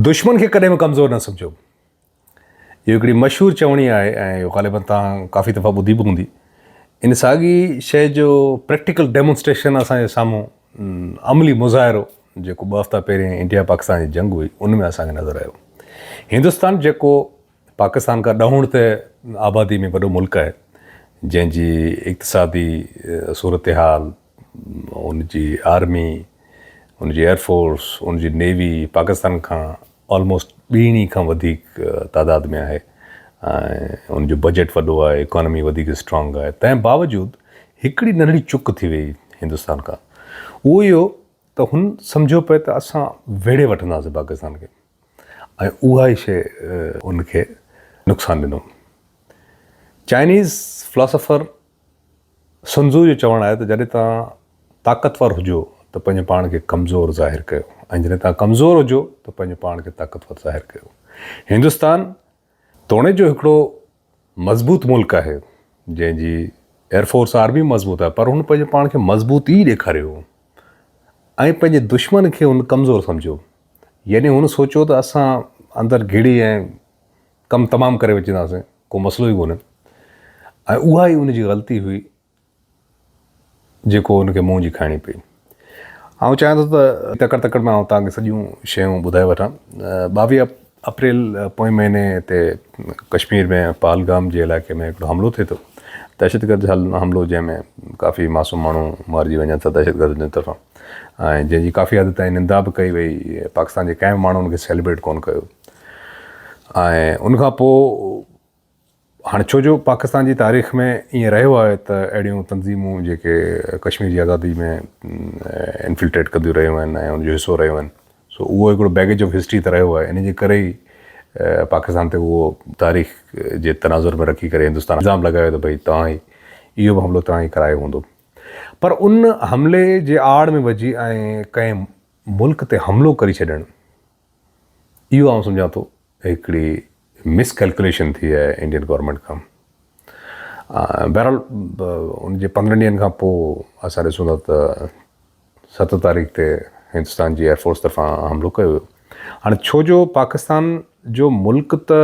دشمن کي ڪڏهن به ڪمزور نه سمجهو. اهو هڪڙي مشهور چوڻي آهي ۽ اهو غالباً توهان ڪافي دفعا ٻڌي به هوندي. ان ساڳي شيء جو پريڪٽيڪل ڊيمونسٽريشن اسان جي سامهون عملي مظاهرو جيڪو ٻه هفتا پهرين انڊيا پاڪستان جي جنگ هئي ان ۾ اسان کي نظر آيو. هندستان جيڪو پاڪستان کان ڏهوڻ تي آبادي ۾ وڏو ملڪ آهي جنهن جي اقتصادي صورتحال، ان جي آرمي، ان جي ايئرفورس، ان جي نيوي پاڪستان کان آلموسٽ ٻيڻي کان وڌيڪ تعداد ۾ آهي ۽ ان جو بجيٽ وڏو آهي، اڪانومي وڌيڪ اسٽرانگ آهي، تنهن باوجود هڪڙي ننڍڙي چڪ ٿي وئي هندستان کان اهو اهو ته هن سمجهيو پئي ته اسان ويڙهي وٺنداسين پاڪستان کي. ۽ اها ئي شيء ان کي نقصان ڏنو. چائنيز فلاسافر سن ٽزو جو چوڻ آهي ته جڏهن توهان طاقتور هجو ته پنهنجو پاڻ کي ڪمزور ظاهر ڪيو ۽ جڏهن توهان ڪمزور هجو ته پنهنجو پاڻ کي طاقتور ظاهر ڪيو. هندستان توڻي جو هڪڙو مضبوط ملڪ آهي جنهن جي ايئر فورس آرمي مضبوط آهي پر هن پنهنجي پاڻ کي مضبوط ئي ڏيکاريو هو ۽ پنهنجي دشمن کي هن ڪمزور سمجهيو يعني هن سوچيو ته اسان اندر گهڙي ۽ ڪم تمام ڪري وجهنداسين ڪو مسئلو ئي ڪونهي ۽ اها ئي ان جي غلطي هئي جيڪو هن کي منهن جي کائڻي پئي. آئون چاهيان ٿو ته تڪڙ تڪڙ ۾ آئون توهان کي سڄيون شيون ٻڌائي وٺان. ٻاويهه اپريل پوئين مهيني تي ڪشمير ۾ پهلگام جي علائقي ۾ هڪڙو حملو ٿئي ٿو. دهشتگرد حملو جنهن ۾ ڪافي معصوم ماڻهو مارجي وڃن ٿا دهشتگردن جي طرفان ۽ جنهن جي ڪافي حد تائين نندا به ڪئي وئي. پاڪستان جي ڪنهن به ماڻهو ان کي سيلبريٽ ڪونه ڪيو ۽ ان کان پوء هاڻي ڇو جو پاڪستان جي تاريخ ۾ ائين رهيو آهي ته اهڙيون تنظيمون جيڪي ڪشمير جي آزادي ۾ انفلٽريٽ ڪنديون رهيون آهن ۽ ان جو حصو رهيون آهن سو اهو هڪڙو بيگيج آف هسٽري ته رهيو آهي ان جي ڪري ئي پاڪستان تي اهو تاريخ جي تناظر ۾ رکي ڪري هندستان الزام لڳايو ته ڀئي توهان ئي اهو به حملو توهان ئي ڪرايو هوندو پر ان حملي جي آڙ ۾ وجهي ۽ ڪنهن ملڪ تي حملو ڪري ڇڏڻ اهو آئون سمجهان ٿو هڪڙي مس ڪيلڪوليشن ٿي آهي انڊين گورنمينٽ کان بهرحال ان جي پندرهن ڏينهن کان پوء اسان ڏسون ٿا ته ست تاريخ تي هندستان جي ايئرفورس طرفان حملو ڪيو ويو هاڻي ڇو جو پاڪستان جو ملڪ ته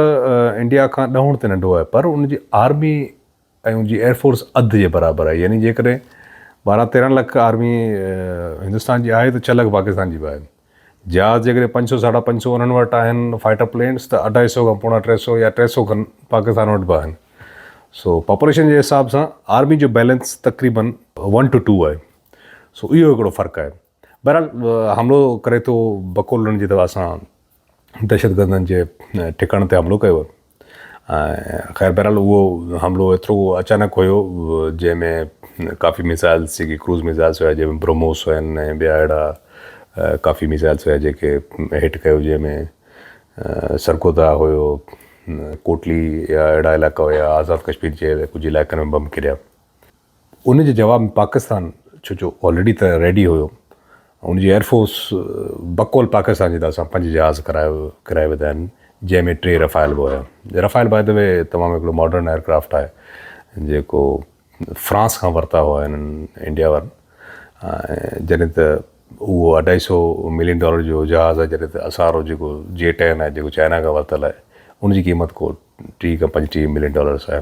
انڊيا کان ڏهوڻ تي ننڍو آهي پر ان جي آرمي ۽ ان جي ايئر فورس اڌ جي برابر آهي يعني جيڪڏهن ٻارهن تيرهن لک آرمي هندستان جي آهي ته ڇهه لک پاڪستان جي به آهن جهاز جيڪڏهن پنج سو ساڍا پنج سو انهن وٽ آهن فائٽر پلينس ته اڍائي سو کان پوڻا ٽي سو يا ٽي سو کن پاڪستان وٽ به آهن سو پاپوليشن جي حساب سان آرمي جو بيلنس تقريبن ون ٽو ٽو آهي سو اهو هڪڙو فرق آهي بهرحال حملو ڪري ٿو بڪولن جي دوا سان دهشتگردن جي ٺڪاڻن تي حملو ڪيو خير بهرحال اهو حملو ايترو اچانڪ هيو جنهن ۾ ڪافي ميزائلس جيڪي ڪروز ميزائلس هيا جنهن ۾ بروموس هيا ۽ ٻيا اهڙا ڪافي ميزائلس هيا جيڪي هٽ ڪيو جنهن ۾ سرگودا هيو ڪوٽلي يا اهڙا علائقا هيا آزاد ڪشمير جي ڪجهه علائقن ۾ بم ڪريا ان جي جواب ۾ پاڪستان ڇو جو آلريڊي ته ريڊي هيو ان جي ايئرفورس بقول پاڪستان جي طرفان پنج جهاز ڪرايو ڪرايا وڌا آهن جنهن ۾ ٽي رفايل به هيا رفايل باء دي وي تمام هڪڙو ماڊرن ايئرڪرافٽ آهي جيڪو فرانس کان ورتا هئا هنن انڊيا وارن جڏهن ته اهو اڍائي سو ملين ڊالر جو جهاز آهي جڏهن ته اسارو جيڪو جي ٽين آهي جيڪو چائنا کان ورتل آهي ان جي قيمت ڪو ٽي کان پنجٽيهه ملين ڊالرس آهي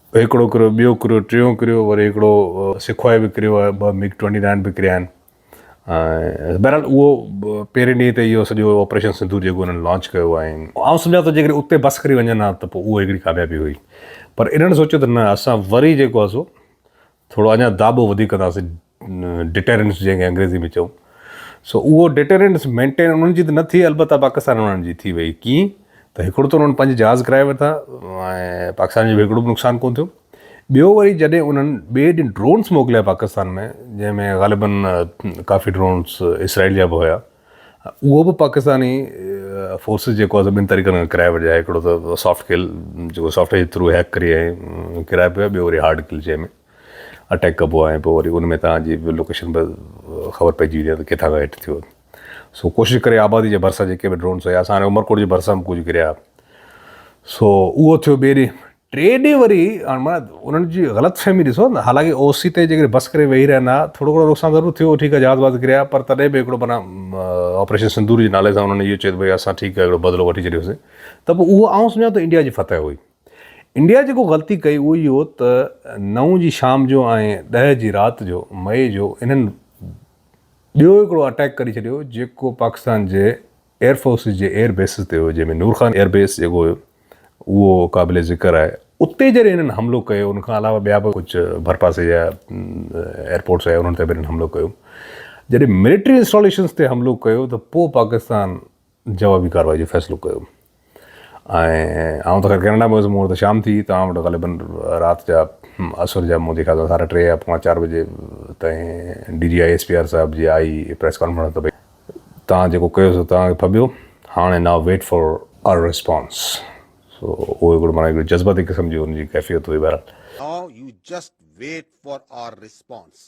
هڪڙو ڪريو، ٻيو ڪريو، ٽيون ڪريو، وري هڪڙو سکوائي به ڪريو آهي، ٻه ميگ ٽوئنٽي نائن به ڪريا آهن. بهرحال اهو پهرين ڏينهن تي اهو سڄو آپريشن سنڌور جيڪو انهن لانچ ڪيو آهي، آئون سمجهان ٿو جيڪڏهن اتي بس ڪري وڃن ها ته پوء اهو هڪڙي ڪاميابي هئي، پر انهن سوچيو ته نه اسان وري جيڪو آهي سو ٿورو اڃا داٻو وڌيڪ ڪنداسين ڊٽيرنس جنهن کي انگريزي ۾ چئون سو اهو ڊٽيرنس مينٽين انهن جي ته نه ٿي البته پاڪستان وارن جي ٿي وئي ڪيئن ته هڪڙو ته انهن پنج جهاز ڪرائي ورتا ۽ پاڪستان جو به هڪڙو به نقصان ڪون ٿيو ٻيو وري جڏهن انهن ٻئي ڏينهن ڊرونس موڪليا پاڪستان ۾ جنهن ۾ غالبن ڪافي ڊرونس اسرائيل جا به هيا اهو به پاڪستاني فورسز جيڪو آهي سو ٻن طريقن کان ڪرائي وٺجي آهي هڪڙو ته سافٽ ڪل جيڪو سافٽ ويئر جي ٿرو هيڪ ڪري ۽ ڪرائي پيو ٻيو وري هارڊ ڪل جنهن ۾ اٽيڪ ڪبو آهي پوء وري ان ۾ تان جي لوڪيشن به خبر پئجي ويندي آهي ته ڪٿا کان هٽ ٿيو سو ڪوشش ڪري آبادي جي ڀرسان جيڪي به ڊرونس هيا اسان هاڻي عمرڪوٽ جي ڀرسان به ڪجهه ڪريا سو اهو ٿيو ٻي ڏي ٽي ڏينهن وري انهن جي غلط فهمي ڏسو نه حالانڪه او سي تي جيڪڏهن بس ڪري ويهي رهن ها ٿورو گهڻو نقصان ضرور ٿيو ٺيڪ آهي جهاز وهاز ڪريا پر تڏهن به هڪڙو معنيٰ آپريشن سندور جي نالي سان انهن اهو چيو ته ڀئي اسان ٺيڪ آهي هڪڙو بدلو وٺي ڇڏيوسين ته پوء اهو آئون سمجهان ٿو انڊيا جي فتح هئي انڊيا جيڪو غلطي ڪئي اهو اهو ته نو جي شام جو ۽ ڏهه جي رات جو مئي جو انهن ٻيو هڪڙو اٽيڪ ڪري ڇڏيو جيڪو پاڪستان جي ايئر فورسز جي ايئر بيسز تي هيو جنهن ۾ نور خان ايئر بيس جيڪو هيو اهو قابل ذڪر آهي اتي جڏهن هنن حملو ڪيو ان کان علاوه ٻيا به ڪجهه ڀرپاسي جا ايئر پورٽس آهي انهن تي به هنن حملو ڪيو جڏهن ملٽري انسٽاليشنز تي حملو ڪيو ته پوء پاڪستان جوابي ڪارروائي جو فيصلو ڪيو ۽ آئون ته خير ڪئناڊا ۾ هيس مون وٽ ته شام ٿي توهان وٽ غالبن رات جا عصر جا مون جي خيال سان ساڍا ٽي يا پوڻا چار بجي تائين D G I S P R صاحب جي آئي پريس ڪانفرنس ته توهان جيڪو ڪيو سو توهان کي ڦٻيو هاڻي now wait for our response سو اهو هڪڙو معنيٰ هڪڙي جذباتي قسم جي ان جي ڪيفيت هئي بهرحال. Now you just wait for our response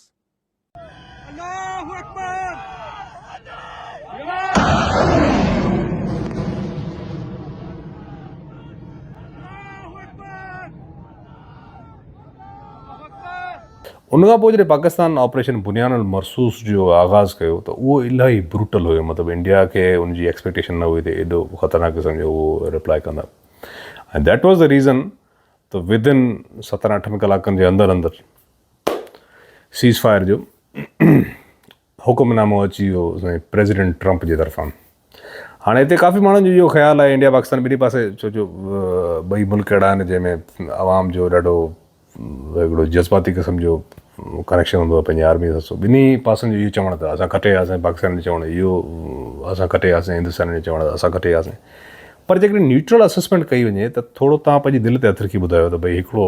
ان کان پوء جڏهن پاڪستان آپريشن بنيان المرصوص جو آغاز ڪيو ته اهو الاهي بروٽل هيو مطلب انڊيا کي ان جي ايڪسپيڪٽيشن نه هئي ته ايڏو خطرناڪ قسم جو اهو رپلائي ڪندا ۽ ديٽ واز دا ريزن ته ود ان ستن اٺن ڪلاڪن جي اندر اندر سيز فائر جو حڪم نامو اچي ويو سائين پريزيڊنٽ ٽرمپ جي طرفان هاڻي هتي ڪافي ماڻهن جو اهو خيال آهي انڊيا پاڪستان ٻنهي پاسي ڇو جو ٻئي ملڪ اهڙا آهن جنهن ۾ عوام جو ڏاڍو هڪڙو جذباتي قسم جو ڪنيڪشن هوندو آهي پنهنجي آرمي سان ٻنهي پاسن جو اهو چوڻ اٿس اسان کٽي آياسين پاڪستان جو چوڻ اهو اسان کٽي آياسين هندستان جو چوڻ اٿس اسان کٽي آياسين پر جيڪڏهن نيوٽرل اسسمينٽ ڪئي وڃي ته ٿورو تان پنهنجي دل تي هٿ رکي ٻڌايو ته ڀئي هڪڙو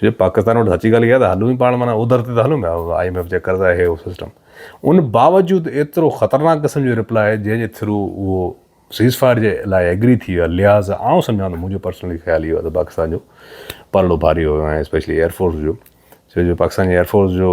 چونجي پاڪستان وٽ سچي ڳالهه اها آهي ته هلون ئي پاڻ معنيٰ اوڌر تي ته هلون پيا آء ايم ايف جا قرض آهي اهو سسٽم ان باوجود ايترو خطرناڪ قسم جو رپلاء جنهن جي ٿرو اهو سيز فائر جي لاء ايگري ٿي ويو آهي لهٰذا آئون سمجهان ٿو منهنجو پرسنلي خيال اهو آهي ته پاڪستان جو پلڙو ڀاري هيو ۽ اسپيشلي ايئر فورس جو چونجي پاڪستان جي ايئر فورس جو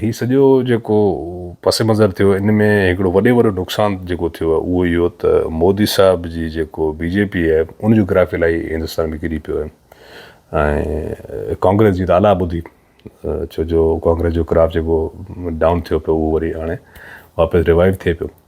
هي سڄو جيڪو پس منظر ٿيو ان ۾ هڪڙو وڏي وڏو نقصان جيڪو ٿيو آهي اهو اهو ته مودي صاحب جي جيڪو بي جي پي آهي ان جو گراف الائي هندستان ۾ ڪري پيو آهي ۽ ڪانگريس جي ته الا ٻڌي ڇو جو ڪانگريس جو گراف جيڪو ڊائون ٿيو پيو اهو وري هاڻي واپس ريوائيو ٿئي پيو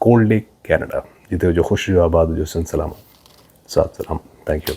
ڪولڊ ليڪ ڪينيڊا جتي هجو خوش رهيو آباد هجو سن سلام سات سلام ٿينڪ يو